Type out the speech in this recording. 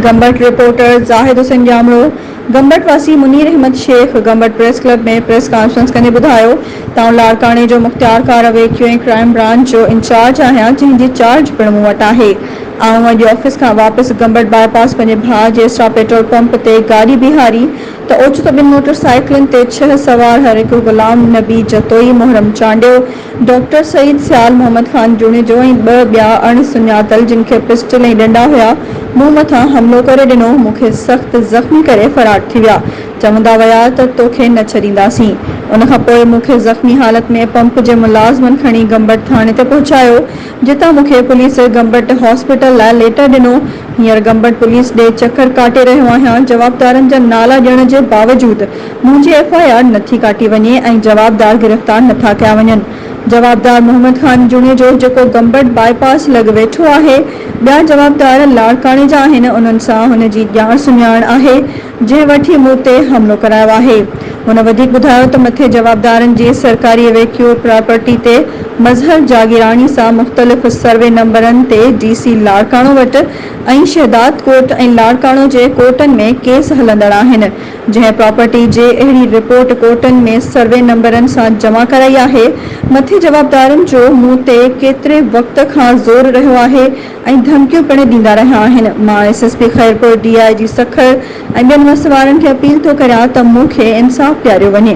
Gambat, reporter Zahid Hussain Jamro, Gambat واسي Munir Ahmed Sheikh Gambat press club ۾ press conference ڪندي ٻڌايو ته آئون لاڙڪاڻي جو مختيار خان اويچو ۽ ڪرائيم برانچ جو انچارج آهيان جنهن جي چارج پڻ مون وٽ آهي آئون اڄ آفيس کان واپس گمبٽ باء پاس پنهنجي ڀاء جي اسٽار پيٽرول پمپ تي گاڏي بيهاري ته اوچتو ٻن موٽر سائيڪلن تي ڇهه سوار هر هڪ غلام نبي جتوئي، محرم چانڊيو، ڊاڪٽر سعيد، سيال محمد خان جوڻيجو ۽ ٻه ٻيا اڻ سڃاتل جن کي پسٽل ۽ ڏنڊا هيا، مون مٿان حملو ڪري ڏنو، مون کي سخت زخمي ڪري فرار ٿي ويا، چوندا ويا ته توکي نه ڇڏينداسين، ان کان پوء مون کي زخمي حالت ۾ پمپ جي ملازمن کڻي گمبٽ ٿاڻي تي پهچايو، جتان مون کي پوليس گمبٽ هاسپيٽل لاء ليٽر ڏنو. هينئر گمبٽ پوليس ڏي چڪر ڪاٽي رهيو آهيان. جوابدارن جا نالا ڏيڻ جي باوجود منهنجي ايف آء آر نٿي ڪاٽي وڃي ۽ جوابدار گرفتار نٿا ڪيا وڃن. جوابدار محمد خان جوڻيجو جيڪو گمبٽ باء پاس لڳ ويٺو آهي. ٻيا جوابدار لاڙڪاڻي جا آهن انهن سان هن جي ڄاڻ سڃاڻ آهي. جنهن وٺي مون تي حملو ڪرايو آهي. هن وڌيڪ ٻڌايو ته مٿين جوابدارن جي سرڪاري اويڪيو پراپرٽي تي مظهر جاگيراڻي سان مختلف سروي نمبرن تي ڊي سي لاڙڪاڻو وٽ ۽ شهداد ڪوٽ ۽ لاڙڪاڻو جي ڪورٽن ۾ ڪيس هلندڙ آهن جنهن پراپرٽي جي اهڙي رپورٽ ڪورٽن ۾ سروي نمبرن سان جمع ڪرائي آهي مٿين جوابدارن جو مون تي ڪيتري وقت کان زور رهيو آهي ۽ ڌمڪيون پڻ ڏيندا رهيا آهن، مان S S P Khairpur, D I G Sukkur ۽ ٻين وس وارن کي اپيل ٿو ڪريان ته مون کي انصاف ڏياريو وڃي.